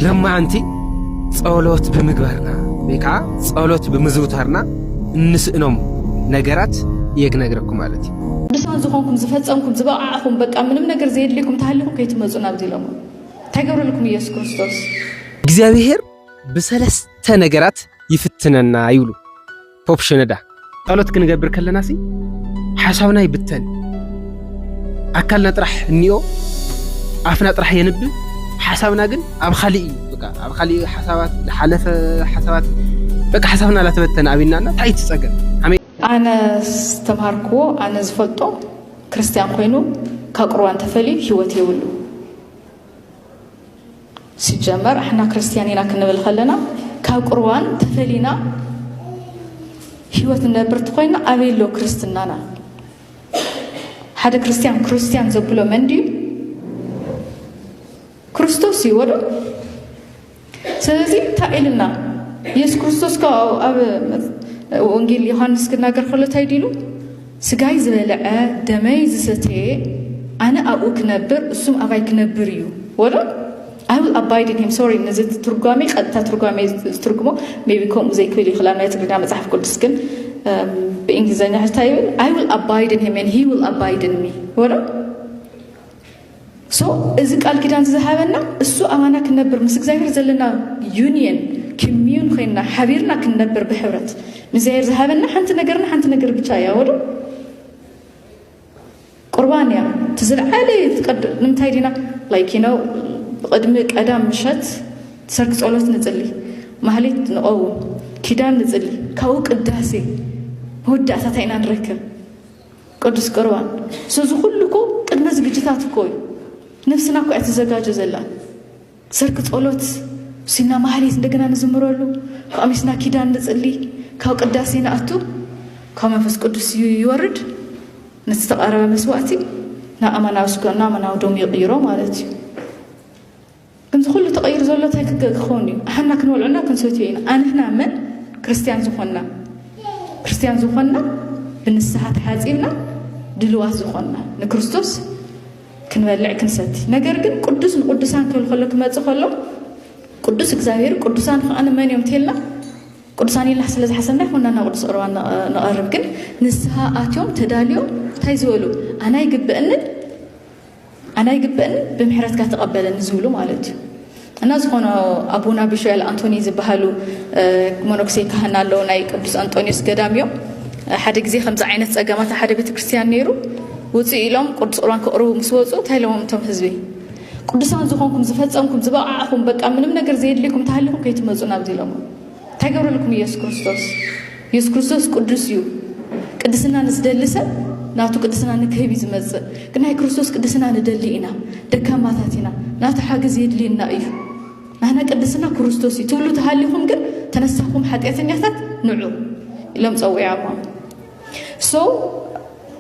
ለማዓንቲ ጸሎት ብምግባርና ወይ ከዓ ጸሎት ብምዝውታርና እንስእኖም ነገራት እየ ክነግረኩም ማለት እዩ ቅዱሳን ዝኾንኩም ዝፈጸምኩም ዝበቕዓኹም በቃ ምንም ነገር ዘየድልየኩም ተሃሊኹም ከይትመፁ ናብዚ ኢሎሞ እንታይ ገብረልኩም ኢየሱስ ክርስቶስ እግዚኣብሔር ብሰለስተ ነገራት ይፍትነና ይብሉ ፖፕ ሽነዳ ጸሎት ክንገብር ከለና ሲ ሓሳብና ይብተን፣ ኣካልና ጥራሕ እኒኦ፣ ኣፍና ጥራሕ የንብብ፣ ሓሳብና ግን ኣብ ኻሊእ እዩ። በቃ ኣብ ኻሊእ ሓሳባት ዝሓለፈ ሓሳባት በቃ ሓሳብና ላተበተነ ኣብና ና ታይ ትጸገም ኣነ ዝተምሃርክዎ ኣነ ዝፈልጦ ክርስትያን ኮይኑ ካብ ቁርባን ተፈልዩ ህይወት የብሉ። ሲጀመር ኣሕና ክርስትያን ኢና ክንብል ከለና ካብ ቁርባን ተፈሊና ሂወት ንነብር ተኾይና ኣበይ ኣሎ ክርስትናና? ሓደ ክርስትያን ክርስትያን ዘብሎ መን ድዩ? ክርስቶስ እዩ ወዶ ስለዚ እንታይ ኢልና ኢየሱስ ክርስቶስ ካብ ኣብ ወንጌል ዮሃንስ ክናገር ከሎ እንታይ ዲሉ ስጋይ ዝበልዐ ደመይ ዝሰተየ ኣነ ኣብኡ ክነብር እሱም ኣባይ ክነብር እዩ ወሎ I will abide in him sorry ነዚ ትርጓሜ ቀጥታ ትርጓሜ ዝትርጉሞ ሜቢ ከምኡ ዘይክብል ይኽላል ናይ ትግርኛ መጽሓፍ ቅዱስ ግን ብእንግሊዝኛ ሕታ ይብል I will abide in him and he will abide in me ወሎ ሶ እዚ ቃል ኪዳንዚ ዝሃበና እሱ ኣማና ክንነብር ምስ እግዚኣብሔር ዘለና ዩኒየን ኪምዩን ኮይንና ሓቢርና ክንነብር ብሕብረት ንእግዚኣብሔር ዝሃበና ሓንቲ ነገርና ሓንቲ ነገር ብቻ እያ ወዶ ቁርባን እያ እቲ ዝለዓለ ትቀድ ንምንታይ ዲና ላይክ ነው ቅድሚ ቀዳም ምሸት ሰርክ ጸሎት ንጽሊ ማህሌት ንቐውም ኪዳን ንጽሊ ካብኡ ቅዳሴ መወዳእታታ ኢና ንረክብ ቅዱስ ቅርባን ሰዚ ኩሉ እኮ ቅድመ ዝግጅታት እኮ እዩ ነፍስና እኮ እትዘጋጀ ዘላ ሰርክ ጸሎት ሲና ማህሌት እንደገና ንዝምረሉ ካብ ሚስና ኪዳን ንጽሊ ካብ ቅዳሴ ንኣቱ ካብ መንፈስ ቅዱስ ይወርድ ነቲ ዝተቐረበ መስዋእቲ ናብ ኣማናዊ ስጋና ኣማናዊ ደሙ ይቕይሮ ማለት እዩ ከምዚ ኩሉ ተቀይሩ ዘሎ ታይ ክከውን እዩ ኣሓና ክንበልዖ እና ክንሰትዮ ኢና ኣንሕና መን ክርስትያን ዝኮና ክርስትያን ዝኮና ብንስሓ ተሓጺብና ድልዋት ዝኮና ንክርስቶስ ክንበልዕ ክንሰቲ ነገር ግን ቅዱስ ንቅዱሳን ክብል ከሎ ክመጽእ ከሎ ቅዱስ እግዚኣብሔር ቅዱሳን ከዓ መን እዮም ተልና ቅዱሳን ኢልና ስለ ዝሓሰብና ይኹንና ናብ ቅዱስ ቁርባን ንቐርብ ግን ንስሃ ኣትዮም ተዳልዮም እንታይ ዝበሉ ኣና ይግብእንን ኣነ ኣይግበእን ብምሕረትካ ተቐበለኒ ዝብሉ ማለት እዩ እና ዝኾነ ኣቡና ቢሾያል ኣንቶኒ ዝበሃሉ መነኩሴ ካህን ኣለዉ ናይ ቅዱስ ኣንጦኒዮስ ገዳም እዮም ሓደ ግዜ ከምዚ ዓይነት ጸገማት ሓደ ቤተ ክርስትያን ነይሩ ውፅኡ ኢሎም ቅዱስ ቁርባን ክቕርቡ ምስ ወፁ እንታይ ኢሎዎም እቶም ህዝቢ ቅዱሳን ዝኾንኩም ዝፈጸምኩም ዝበቕዓኹም በቃ ምንም ነገር ዘየድልይኩም ተሃሊኹም ከይትመፁ ናብዚ ኢሎሞ ታይ ገብረልኩም ኢየሱስ ክርስቶስ ኢየሱስ ክርስቶስ ቅዱስ እዩ ቅድስና ንዝደሊ ሰብ ናቱ ቅድስና ንክህብ እዩ ዝመጽእ ግን ናይ ክርስቶስ ቅድስና ንደሊ ኢና ደካማታት ኢና ናቱ ሓገዝ የድልየና እዩ ናህና ቅድስና ክርስቶስ እዩ ትብሉ ተሃሊኹም ግን ተነሳኹም ሓጢኣተኛታት ንዑ ኢሎም ጸዊዖሞ ሶ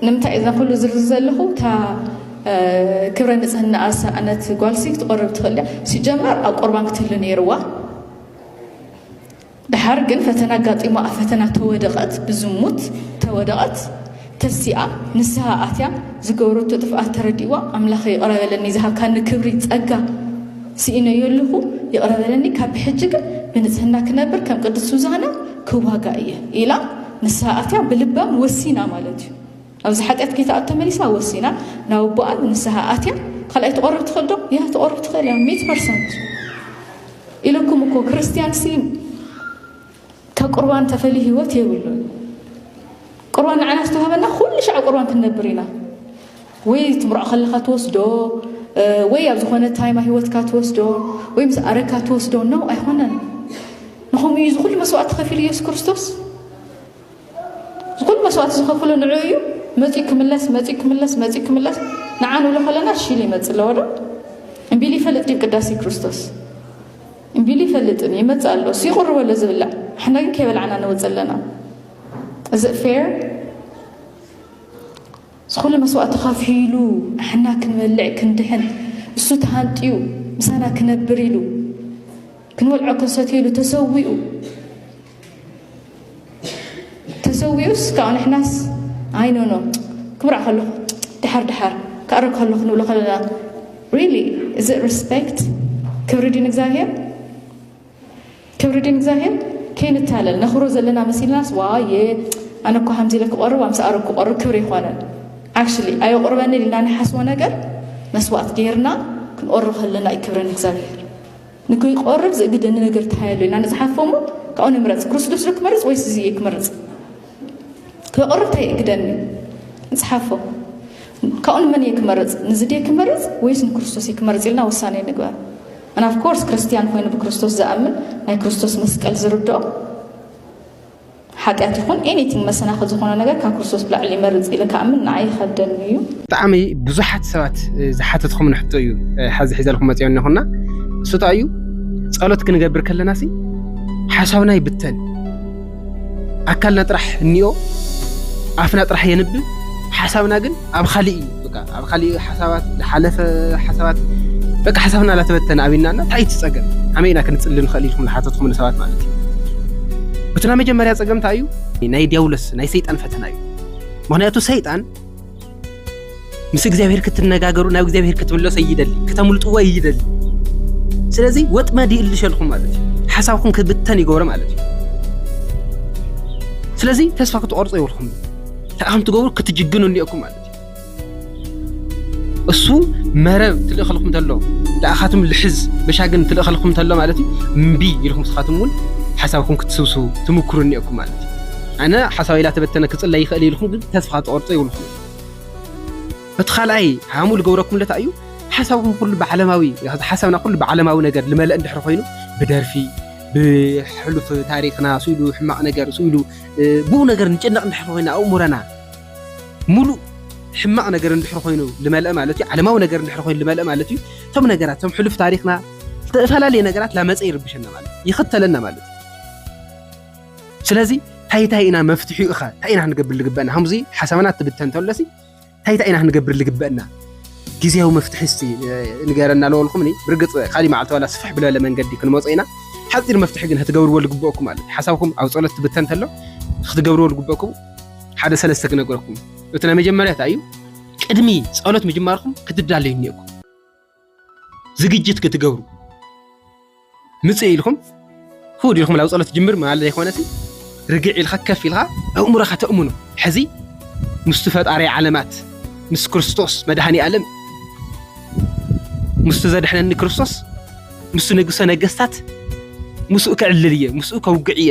ንምንታይ እዛ ኩሉ ዝርዝር ዘለኹ እታ ክብረ ንጽህና ኣሰኣነት ጓልሲ ክትቆርብ ትኽእል እያ ሲጀመር ኣብ ቁርባን ክትህሉ ነይርዋ ድሓር ግን ፈተና ኣጋጢሞ ኣብ ፈተና ተወደቐት ብዝሙት ተወደቐት ተሲኣ ንስሃ ኣትያ ዝገበረቶ ጥፍኣት ተረዲእዋ ኣምላኸ ይቕረ በለኒ ዝሃብካኒ ክብሪ ጸጋ ስኢነዮ ኣለኹ ይቕረ በለኒ ካብ ብሕጂ ግን ብንጽህና ክነብር ከም ቅዱስ ሱዛና ክዋጋ እየ ኢላ ንስሃ ኣትያ ብልባም ወሲና ማለት እዩ ኣብዚ ሓጢኣት ከይትኣቱ ተመሊሳ ወሲና ናብ ኣቦኣ ንንስሃ ኣትያ ካልኣይ ትቆርብ ትኽእል ዶ? ያ ትቆርብ ትኽእል እያ ሚእቲ ፐርሰንት ኢለኩም እኮ ክርስትያን ሲ ካብ ቁርባን ተፈልዩ ህይወት የብሉን። ቁርባን ንዓና ዝተዋህበና ኩሉ ሻዕ ቁርባን ክንነብር ኢና ወይ ትምርዖ ከለኻ ትወስዶ ወይ ኣብ ዝኾነ ታይማ ህይወትካ ትወስዶ ወይ ምስ ኣረካ ትወስዶ ነው ኣይኮነን ንኸምኡ እዩ ዝኹሉ መስዋእቲ ከፊሉ ኢየሱስ ክርስቶስ እዚ ኩሉ መስዋእቲ ዝኸፍሉ ንዕኡ እዩ መፂኡ ክምለስ መፂኡ ክምለስ መፂኡ ክምለስ ንዓ ንብሎ ከለና ሽል ይመፅእ ኣለዎ ዶ እምቢሉ ይፈልጥ ድዩ ቅዳሴ ክርስቶስ እምቢሉ ይፈልጥን ይመፅእ ኣሎ እሱ ይቕርቦ ኣሎ ዝብላዕ ንሕና ግን ከይበላዕና ንወፅ ኣለና እዚ ፌር እዚ ኩሉ መስዋእቲ ከፊሉ ንሕና ክንበልዕ ክንድሕን እሱ ተሃንጥዩ ምሳና ክነብር ኢሉ ክንበልዖ ክንሰትየሉ ተሰዊኡ ተሰዊኡስ ካኣ ንሕናስ ኣይ ኖ ኖ ክብርዕ ከለኹ ድሓር ድሓር ክኣርግ ከለኹ ንብሎ ከለና ሪሊ እዚ ሪስፔክት ክብሪ ድዩ ንእግዚኣብሄር ክብሪ ድዩ ንእግዚኣብሄር ከይንታለል ነኽብሮ ዘለና መሲልናስ ዋ የ ኣነ እኳ ከምዚ ኢለ ክቆርብ ኣምስ ኣረግ ክቆርብ ክብሪ ይኮነን ዓክሽሊ ኣየቁርበኒ ኢልና ንሓስቦ ነገር መስዋእት ገይርና ክንቆርብ ከለና እዩ ክብሪ ንእግዚኣብሄር ንከይቆርብ ዝእግደኒ ነገር እንታይ ኣሎ ኢልና ንጽሓፎ እሞ ካብኡ ንምረጽ ክርስቶስ ዶ ክመርጽ ወይስ እዚ እየ ክመርጽ ከይቆርብ እንታይ ይእግደኒ ንጽሓፎ ካብኡ ንመን እየ ክመርጽ ንዚ ድየ ክመርጽ ወይስ ንክርስቶስ እየ ክመርጽ ኢልና ውሳኔ ንግበር ኣናፍኮርስ ክርስትያን ኮይኑ ብክርስቶስ ዝኣምን ናይ ክርስቶስ መስቀል ዝርድኦ ሓጢኣት ይኹን ኤኒቲንግ መሰናኽል ዝኾኖ ነገር ካብ ክርስቶስ ብላዕሊ ይመርጽ ኢለ ክኣምን ንዓይ ይኸብደኒ እዩ። ብጣዕሚ ብዙሓት ሰባት ዝሓተትኩምን ሕቶ እዩ ሐዚ ሒዘልኩም መፅኦ እኒኹና እሱ እንታይ እዩ ፀሎት ክንገብር ከለና ሲ ሓሳብና ይብተን ኣካልና ጥራሕ እኒኦ ኣፍና ጥራሕ የንብብ ሓሳብና ግን ኣብ ኻሊእ እዩ በቃ ኣብ ኻሊእ ሓሳባት ዝሓለፈ ሓሳባት በቃ ሓሳብና ላተበተነ ኣብና እና እንታይ ትፀገም ከመይ ኢና ክንፅሊ ንኽእል ኢልኩም ዝሓተትኩም ንሰባት ማለት እዩ እቲ ናይ መጀመርያ ፀገም እንታይ እዩ ናይ ዲያብሎስ ናይ ሰይጣን ፈተና እዩ ምክንያቱ ሰይጣን ምስ እግዚኣብሔር ክትነጋገሩ ናብ እግዚኣብሔር ክትምለሶ ይደሊ ክተምልጥዎ ይደሊ ስለዚ ወጥመድ ይእልሸልኩም ማለት እዩ ሓሳብኩም ክብተን ይገብሮ ማለት እዩ ስለዚ ተስፋ ክትቆርፁ የብልኩም ተኣም ትገብሩ ክትጅግኑ እኒኦኩም ማለት እዩ እሱ መረብ ትልእኸልኩም ተሎ ልኣኻትም ልሕዝ መሻግን ትልእኸልኩም ተሎ ማለት እዩ እምቢ ኢልኩም ስኻትም እውን ሓሳብኩም ክትስብሱ ትምክሩ እኒኦኩም ማለት እዩ ኣነ ሓሳብ ኢላ ተበተነ ክፅለ ይኽእል ኢልኩም ግን ተስፋ ትቆርፆ ይብልኩም እቲ ካልኣይ ሃሙ ዝገብረኩም ለታ እዩ ሓሳብኩም ኩሉ ብዓለማዊ ሓሳብና ኩሉ ብዓለማዊ ነገር ልመለእ እንድሕር ኮይኑ ብደርፊ ብሕሉፍ ታሪክና ስኢሉ ሕማቕ ነገር ስኢሉ ብኡ ነገር ንጭነቕ እንድሕር ኮይና ኣእሙረና ሙሉእ ሕማቕ ነገር እንድሕር ኮይኑ ልመልአ ማለት እዩ ዓለማዊ ነገር እንድሕር ኮይኑ ልመልአ ማለት እዩ እቶም ነገራት እቶም ሕሉፍ ታሪክና ዝተፈላለየ ነገራት ላመፀ ይርብሸና ማለት ይኽተለና ማለት እዩ ስለዚ እንታይ እንታይ ኢና መፍትሒኡ ኸ እንታይ ኢና ክንገብር ዝግበአና ከምዚ ሓሳብና ትብተን ተሎሲ እንታይ እንታይ ኢና ክንገብር ልግበእና ግዜያዊ መፍትሒ እስቲ ንገረና ለወልኩምኒ ብርግፅ ካሊእ መዓልቲ ዋላ ስፍሕ ብለለ መንገዲ ክንመፆ ኢና ሓፂር መፍትሒ ግን ክትገብርዎ ልግበእኩም ኣለ ሓሳብኩም ኣብ ፀሎት ትብተን እንተሎ ክትገብርዎ ልግበእኩም ሓደ ሰለስተ ክነገረኩም እቲ ናይ መጀመርያ እንታይ እዩ ቅድሚ ፀሎት ምጅማርኩም ክትዳለዩ እኒኦኩም ዝግጅት ክትገብሩ ምጽእ ኢልኩም ክውድ ኢልኩም ናብ ጸሎት ጅምር ማለት ዘይኮነሲ ርግዕ ኢልካ ከፍ ኢልካ ኣእምሮኻ ተእምኖ ሕዚ ምስቲ ፈጣሪ ዓለማት ምስ ክርስቶስ መድሃኒ ኣለም ምስቲ ዘድሕነኒ ክርስቶስ ምስ ንጉሰ ነገስታት ምስኡ ክዕልል እየ ምስኡ ከውግዕ እየ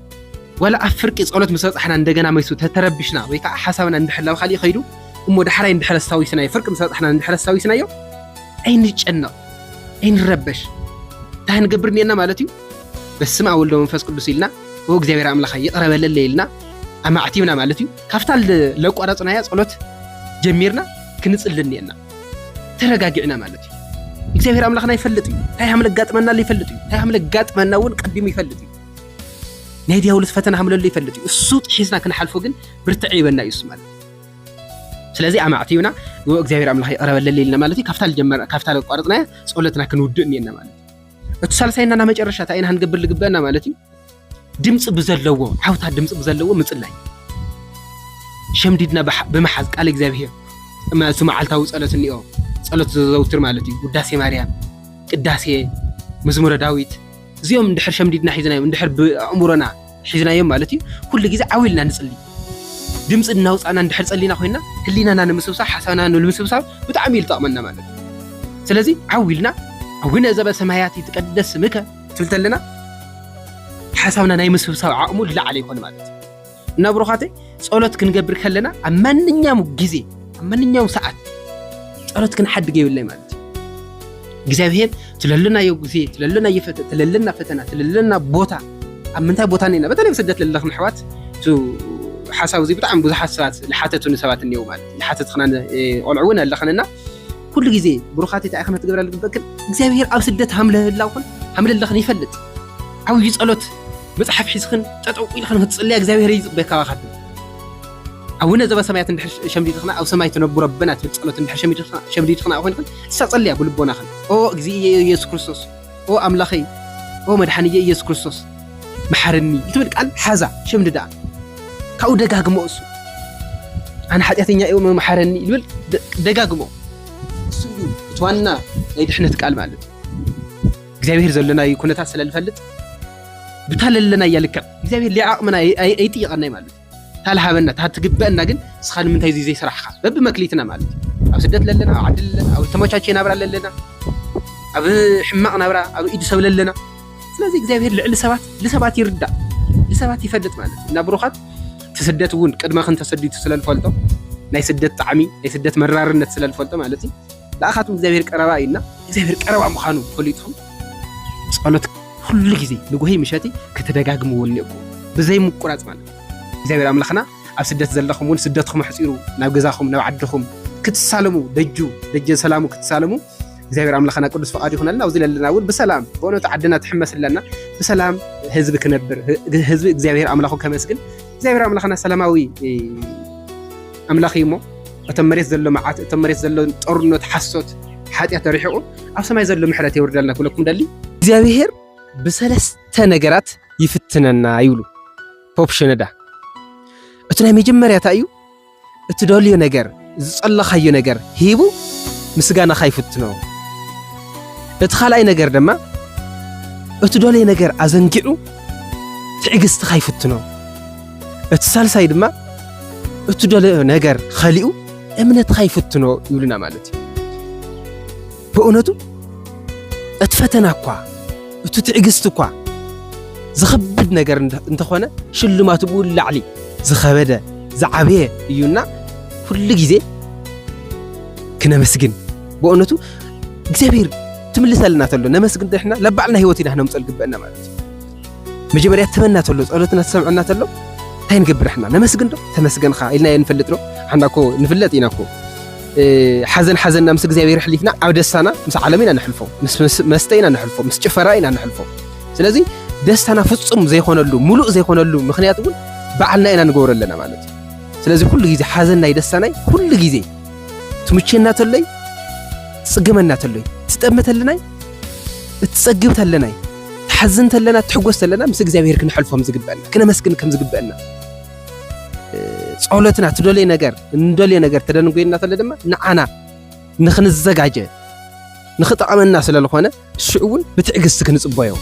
ዋላ ኣብ ፍርቂ ጸሎት ምስ በጻሕና እንደገና መይሱ ተተረብሽና ወይ ከኣ ሓሳብና እንድሕር ናብ ካልእ ከይዱ እሞ ዳሕራይ እንድሕር ኣስታዊስናዮ ፍርቂ ምስ በጻሕና እንድሕር ኣስታዊስናዮ ኣይንጨነቕ ኣይንረበሽ እንታይ ክንገብር እኒኤና ማለት እዩ በስመ ኣብ ወልዶ መንፈስ ቅዱስ ኢልና ኦ እግዚኣብሔር ኣምላኻ ይቕረ በለለይ ኢልና ኣማዕቲብና ማለት እዩ ካብታ ለቋረጽናያ ጸሎት ጀሚርና ክንጽሊ እኒኤና ተረጋጊዕና ማለት እዩ እግዚኣብሔር ኣምላኽና ይፈልጥ እዩ እንታይ ሃም ለጋጥመና ይፈልጥ እዩ እንታይ ሃም ለጋጥመና እውን ቀዲሙ ይፈልጥ እዩ ናይ ዲያብሎስ ፈተና ከም ዘሎ ይፈልጥ እዩ እሱ ጥሒስና ክንሓልፎ ግን ብርትዕ ይበና እዩ እሱ ማለት እዩ ስለዚ ኣማዕትዩና ንኡ እግዚኣብሔር ኣምላኽ ይቕረበለለ ኢልና ማለት እዩ ካብታ ለቋረፅናያ ፀሎትና ክንውድእ እኒኤና ማለት እዩ እቲ ሳልሳይና ና መጨረሻ እንታይ ኢና ክንገብር ዝግበአና ማለት እዩ ድምፂ ብዘለዎ ዓውታ ድምፂ ብዘለዎ ምፅላይ ሸምዲድና ብምሓዝ ቃል እግዚኣብሔር እቲ መዓልታዊ ፀሎት እኒኦ ፀሎት ዘዘውትር ማለት እዩ ውዳሴ ማርያም ቅዳሴ መዝሙረ ዳዊት እዚኦም እንድሕር ሸምዲድና ሒዝናዮም እንድሕር ብኣእምሮና ሒዝናዮም ማለት እዩ ኩሉ ግዜ ዓው ኢልና ንጽሊ ድምፂ እናውፃእና እንድሕር ፀሊና ኮይና ህሊናና ንምስብሳብ ሓሳብና ንምስብሳብ ብጣዕሚ እዩ ዝጠቕመና ማለት እዩ ስለዚ ዓው ኢልና ኣቡነ ዘበሰማያት ይትቀደስ ስምከ ትብል ተለና ሓሳብና ናይ ምስብሳብ ዓቕሙ ዝለዓለ ይኾን ማለት እዩ እና ብሩኻተይ ጸሎት ክንገብር ከለና ኣብ ማንኛውም ግዜ ኣብ ማንኛውም ሰዓት ጸሎት ክንሓድግ የብለይ ማለት እዩ እግዚኣብሄር ትለለናዮ ግዜ ትለለናዮ ፈተ ትለለና ፈተና ትለለና ቦታ ኣብ ምንታይ ቦታ ነና በተለይ ስደት ለለኽን ኣሕዋት እቲ ሓሳብ እዚ ብጣዕሚ ብዙሓት ሰባት ዝሓተቱኒ ሰባት እኒው ማለት እዩ ሓተትክና ቆልዑ እውን ኣለኽንና ኩሉ ግዜ ብሩኻት እንታይ ኢኽን ክትገብራ ዝግበእክን እግዚኣብሄር ኣብ ስደት ሃምለህላውኽን ሃምለለኽን ይፈልጥ ዓብዩ ጸሎት መጽሓፍ ሒዝኽን ጠጠው ኢልኽን ክትጽልያ እግዚኣብሔር እዩ ዝጽበየካ ካባኻትም ኣቡነ ዘበሰማያት እንድሕር ሸምዲድኽና ኣብ ሰማይ ትነብሩ ኣቦና ትብል ጸሎት እንድሕር ሸምዲድኽና ኮይንኽን እሳ ጸልያ ብልቦናኽን ኦ እግዚእየ ኢየሱስ ክርስቶስ ኦ ኣምላኸይ ኦ መድሓንየ ኢየሱስ ክርስቶስ መሓርኒ እትብል ቃል ሓዛ ሸምድዳ ካብኡ ደጋግሞ እሱ ኣነ ሓጢኣተኛ እዩ መሓረኒ ይብል ደጋግሞ እሱ እዩ እቲ ዋና ናይ ድሕነት ቃል ማለት እዩ እግዚኣብሔር ዘለናዩ ኩነታት ስለ ልፈልጥ ብታ ለለናያ ልክዕ እግዚኣብሔር ሊዓቕምና ኣይጥይቐናይ ማለት እዩ ታልሃበና እታ ትግበአና ግን እስኻ ንምንታይ እዙይ ዘይስራሕኻ በቢ መክሊትና ማለት እዩ ኣብ ስደት ለለና ኣብ ዓዲ ለለና ኣብ ዝተመቻቸ ናብራ ለለና ኣብ ሕማቕ ናብራ ኣብ ኢድ ሰብ ለለና ስለዚ እግዚኣብሔር ልዕሊ ሰባት ልሰባት ይርዳእ ልሰባት ይፈልጥ ማለት እዩ እና ብሩኻት እቲ ስደት እውን ቅድመ ክንተሰዲቱ ስለ ልፈልጦ ናይ ስደት ጣዕሚ ናይ ስደት መራርነት ስለ ልፈልጦ ማለት እዩ ንኣኻትኩም እግዚኣብሔር ቀረባ እዩ እና እግዚኣብሔር ቀረባ ምዃኑ ፈሊጥኹም ጸሎት ኩሉ ግዜ ንጉሂ ምሸቲ ክትደጋግምዎ እኒኦኩም ብዘይ ምቁራጽ ማለት እግዚኣብሔር ኣምላኽና ኣብ ስደት ዘለኹም እውን ስደትኩም ኣሕፂሩ ናብ ገዛኹም ናብ ዓድኹም ክትሳለሙ ደጁ ደጀ ሰላሙ ክትሳለሙ እግዚኣብሔር ኣምላኽና ቅዱስ ፈቃድ ይኹነልና ኣብዚ ለለና እውን ብሰላም በእውነቱ ዓድና ትሕመስ ኣለና ብሰላም ህዝቢ ክነብር ህዝቢ እግዚኣብሔር ኣምላኹ ከመስግን እግዚኣብሔር ኣምላኽና ሰላማዊ ኣምላኽ እዩ እሞ እቶም መሬት ዘሎ መዓት እቶም መሬት ዘሎ ጦርነት ሓሶት ሓጢኣት ተሪሕቑ ኣብ ሰማይ ዘሎ ምሕረት የውርደልና ክብለኩም ደሊ እግዚኣብሔር ብሰለስተ ነገራት ይፍትነና ይብሉ ፖፕ ሸነዳ እቲ ናይ መጀመርያታ እዩ እትደልዮ ነገር፣ ዝጸለኻዮ ነገር ሂቡ ምስጋናኻ ይፍትኖ። እቲ ካልኣይ ነገር ድማ እትደልዮ ነገር ኣዘንጊዑ ትዕግስትኻ ይፍትኖ። እቲ ሳልሳይ ድማ እትደልዮ ነገር ኸሊኡ እምነትኻ ይፍትኖ ይብሉና ማለት እዩ። ብእውነቱ እቲ ፈተና እኳ እቲ ትዕግስቲ እኳ ዝኸብድ ነገር እንተኾነ ሽልማቱ ብኡ ላዕሊ ዝኸበደ ዝዓበየ እዩና ኩሉ ግዜ ክነመስግን ብእውነቱ እግዚኣብሔር ትምልሰልና ተሎ ነመስግን ድሕና ለባዕልና ህይወት ኢና ክነምፀል ግበአና ማለት እዩ መጀመርያ ትበና ተሎ ጸሎትና ትሰምዐና ተሎ እንታይ ንገብር ሕና ነመስግን ዶ ተመስገንካ ኢልና የንፈልጥ ዶ ሓና እኮ ንፍለጥ ኢና እኮ ሓዘን ሓዘንና ምስ እግዚኣብሔር ሕሊፍና ኣብ ደስታና ምስ ዓለም ኢና ንሕልፎ ምስ መስተ ኢና ንሕልፎ ምስ ጭፈራ ኢና ንሕልፎ ስለዚ ደስታና ፍጹም ዘይኮነሉ ሙሉእ ዘይኮነሉ ምክንያት እውን በዓልና ኢና ንገብሮ ኣለና ማለት እዩ ስለዚ ኩሉ ግዜ ሓዘናይ ደስታናይ ኩሉ ግዜ ትምቸና ተለይ ትጽገመና ተለይ ትጠመተልናይ እትጸግብ ተለናይ ትሓዝን ተለና ትሕጎስ ተለና ምስ እግዚኣብሔር ክንሐልፎም ዝግበአና ክነመስግን ከም ዝግበአና ጸሎትና ትደልዮ ነገር እንደልዮ ነገር ተደንጎየና ተለ ድማ ንዓና ንክንዘጋጀ ንክጠቐመና ስለ ዝኾነ ሽዑ እውን ብትዕግስቲ ክንጽበዮ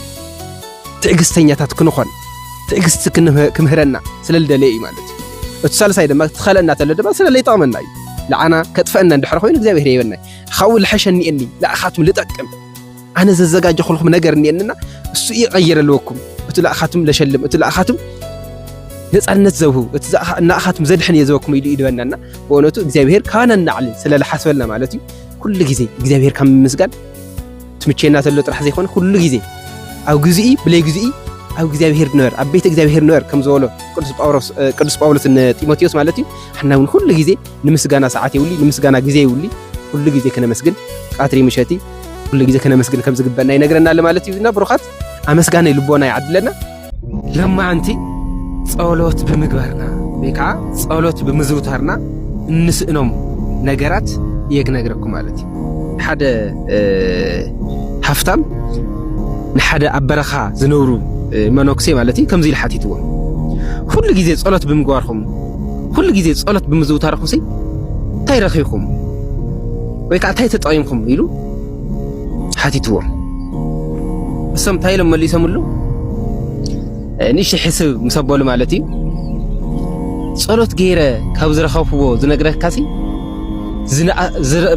ትዕግስተኛታት ክንኾን ትዕግስቲ ክምህረና ስለ ልደለየ እዩ ማለት እዩ እቲ ሳልሳይ ድማ ትኸለና ተለ ድማ ስለ ለይጠቕመና እዩ ንዓና ከጥፈአና እንድሕር ኮይኑ እግዚኣብሔር የበና ካብኡ ልሐሸ እኒኤኒ ንኣኻትኩም ልጠቅም ኣነ ዘዘጋጀኹልኩም ነገር እኒኤንና እሱ እዩ ቀይር ኣለወኩም እቲ ላእኻትም ለሸልም እቲ ላእኻትም ነፃነት ዘብሁ እቲ እናእኻትም ዘድሕን እየ ዘበኩም ኢሉ ይድበናና ብእውነቱ እግዚኣብሄር ካባና እናዕሊ ስለዝሓስበልና ማለት እዩ ኩሉ ግዜ እግዚኣብሄር ካብ ምምስጋን ትምቼና ተሎ ጥራሕ ዘይኮነ ኩሉ ግዜ ኣብ ግዜኢ ብለይ ግዜኢ ኣብ እግዚኣብሄር ንበር ኣብ ቤት እግዚኣብሄር ንበር ከም ዝበሎ ቅዱስ ጳውሎስ ንጢሞቴዎስ ማለት እዩ ሓና እውን ኩሉ ግዜ ንምስጋና ሰዓት የብሉ ንምስጋና ግዜ የብሉ ኩሉ ግዜ ክነመስግን ቃትሪ ምሸቲ ኩሉ ግዜ ከነመስግን ከም ዝግበና ይነግረና ኣሎ ማለት እዩ እና ብሩኻት ኣመስጋነይ ልቦና ይዓድለና ለማዓንቲ ጸሎት ብምግባርና ወይ ከዓ ጸሎት ብምዝውታርና እንስእኖም ነገራት እየ ክነግረኩም ማለት እዩ ሓደ ሃፍታም ንሓደ ኣብ በረኻ ዝነብሩ መነኩሴ ማለት እዩ ከምዚ ኢሉ ሓቲትዎ ኩሉ ግዜ ጸሎት ብምግባርኩም ኩሉ ግዜ ጸሎት ብምዝውታርኩም ሲ እንታይ ረኺብኩም ወይ ከዓ እንታይ ተጠቒምኩም ኢሉ ሓቲትዎም። እሶም እንታይ ኢሎም መሊሶምሉ? ንእሽተይ ሕስብ ምስ ኣበሉ ማለት እዩ ጸሎት ገይረ ካብ ዝረኸብክዎ ዝነግረካሲ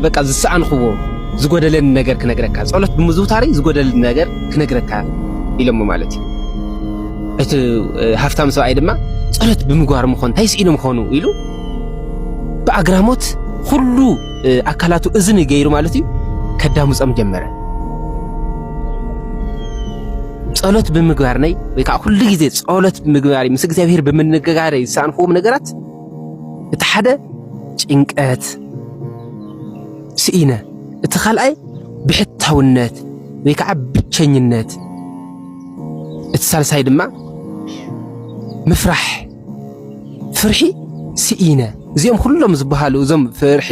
በቃ ዝሰኣንክዎ ዝጎደለኒ ነገር ክነግረካ ጸሎት ብምዝውታሪ ዝጎደለኒ ነገር ክነግረካ ኢሎሞ ማለት እዩ። እቲ ሃፍታም ሰብኣይ ድማ ጸሎት ብምግባር ምኾን እንታይ ስኢኖም ኾኑ ኢሉ ብኣግራሞት ኩሉ ኣካላቱ እዝኒ ገይሩ ማለት እዩ ከዳምፆም ጀመረ። ጸሎት ብምግባር ነይ ወይ ከዓ ኩሉ ግዜ ጸሎት ብምግባር ምስ እግዚኣብሔር ብምንግጋር ዝሰኣንክዎም ነገራት እቲ ሓደ ጭንቀት ስኢነ፣ እቲ ካልኣይ ብሕታውነት ወይ ከዓ ብቸኝነት፣ እቲ ሳልሳይ ድማ ምፍራሕ ፍርሒ ስኢነ እዚኦም ኩሎም ዝበሃሉ እዞም ፍርሒ፣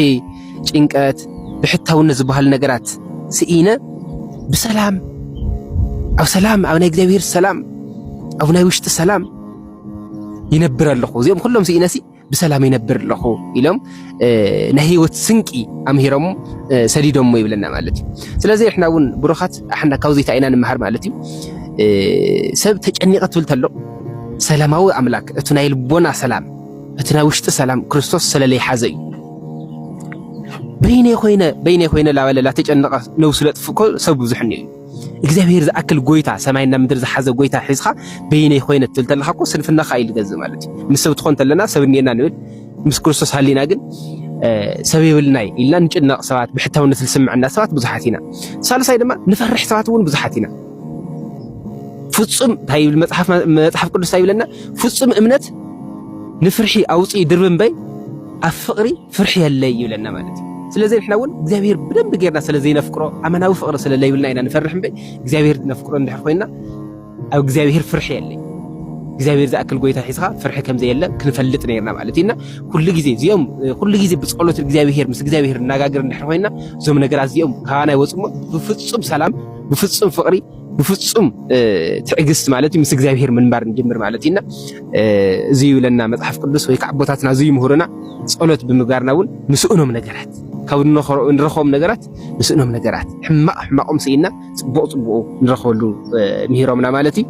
ጭንቀት፣ ብሕታውነት ዝበሃሉ ነገራት ስኢነ ብሰላም ኣብ ሰላም ኣብ ናይ እግዚኣብሔር ሰላም ኣብ ናይ ውሽጢ ሰላም ይነብር ኣለኹ እዚኦም ኩሎም ስኢነሲ ብሰላም ይነብር ኣለኹ ኢሎም ናይ ህይወት ስንቂ ኣምሂሮም ሰዲዶሞ ይብለና ማለት እዩ ስለዚ ንሕና እውን ብሩኻት ኣሕና ካብዚ እንታይ ኢና ንምሃር ማለት እዩ ሰብ ተጨኒቐ ትብል ተሎ ሰላማዊ ኣምላክ እቲ ናይ ልቦና ሰላም እቲ ናይ ውሽጢ ሰላም ክርስቶስ ስለለይ ሓዘ እዩ በይነይ ኮይነ በይነይ ኮይነ ላበለላ ተጨነቐ ነብሱ ለጥፍእ እኮ ሰብ ብዙሕ እኒኦ እዩ እግዚኣብሄር ዝኣክል ጎይታ ሰማይና ምድሪ ዝሓዘ ጎይታ ሒዝካ በይነይ ኮይነ ትብል ተለካ እኮ ስንፍናካ እዩ ዝገዝእ ማለት እዩ። ምስ ሰብ ትኾን ተለና ሰብ እኒኤና ንብል፣ ምስ ክርስቶስ ሃሊና ግን ሰብ የብልናይ ኢልና ንጭነቕ ሰባት፣ ብሕታውነት ዝስምዐና ሰባት ብዙሓት ኢና። ሳልሳይ ድማ ንፈርሕ ሰባት እውን ብዙሓት ኢና። ፍጹም እንታይ ይብል መጽሓፍ መጽሓፍ ቅዱስ ይብለና? ፍጹም እምነት ንፍርሒ ኣውጽኢ ድርቢ እምበይ ኣብ ፍቕሪ ፍርሒ የለይ ይብለና ማለት እዩ። ስለዚ ንሕና እውን እግዚኣብሄር ብደንቢ ጌርና ስለ ዘይነፍቅሮ ኣመናዊ ፍቕሪ ስለ ለይብልና ኢና ንፈርሕ እምበይ እግዚኣብሄር ነፍቅሮ እንድሕር ኮይና ኣብ እግዚኣብሄር ፍርሒ የለይ እግዚኣብሔር ዝኣክል ጎይታ ሒዝኻ ፍርሒ ከም ዘየለ ክንፈልጥ ነርና ማለት እዩና ኩሉ ግዜ እዚኦም ኩሉ ግዜ ብፀሎት እግዚኣብሔር ምስ እግዚኣብሔር እናጋግር እንድሕር ኮይና እዞም ነገራት እዚኦም ካባና ይወፅሞ ብፍፁም ሰላም ብፍፁም ፍቅሪ ብፍጹም ትዕግስት ማለት ምስ እግዚኣብሄር ምንባር ንጅምር ማለት እዩና እዚ ይብለና መጽሓፍ ቅዱስ ወይ ከዓ ኣቦታትና እዚ ይምህሩና ጸሎት ብምግባርና እውን ምስእኖም ነገራት ካብ ንረኸቦም ነገራት ምስእኖም ነገራት ሕማቕ ሕማቆም ስኢና ጽቡቕ ጽቡቑ ንረኸበሉ ምሂሮምና ማለት እዩ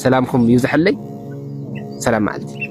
ሰላምኩም ይብዝሐለይ ሰላም መዓልቲ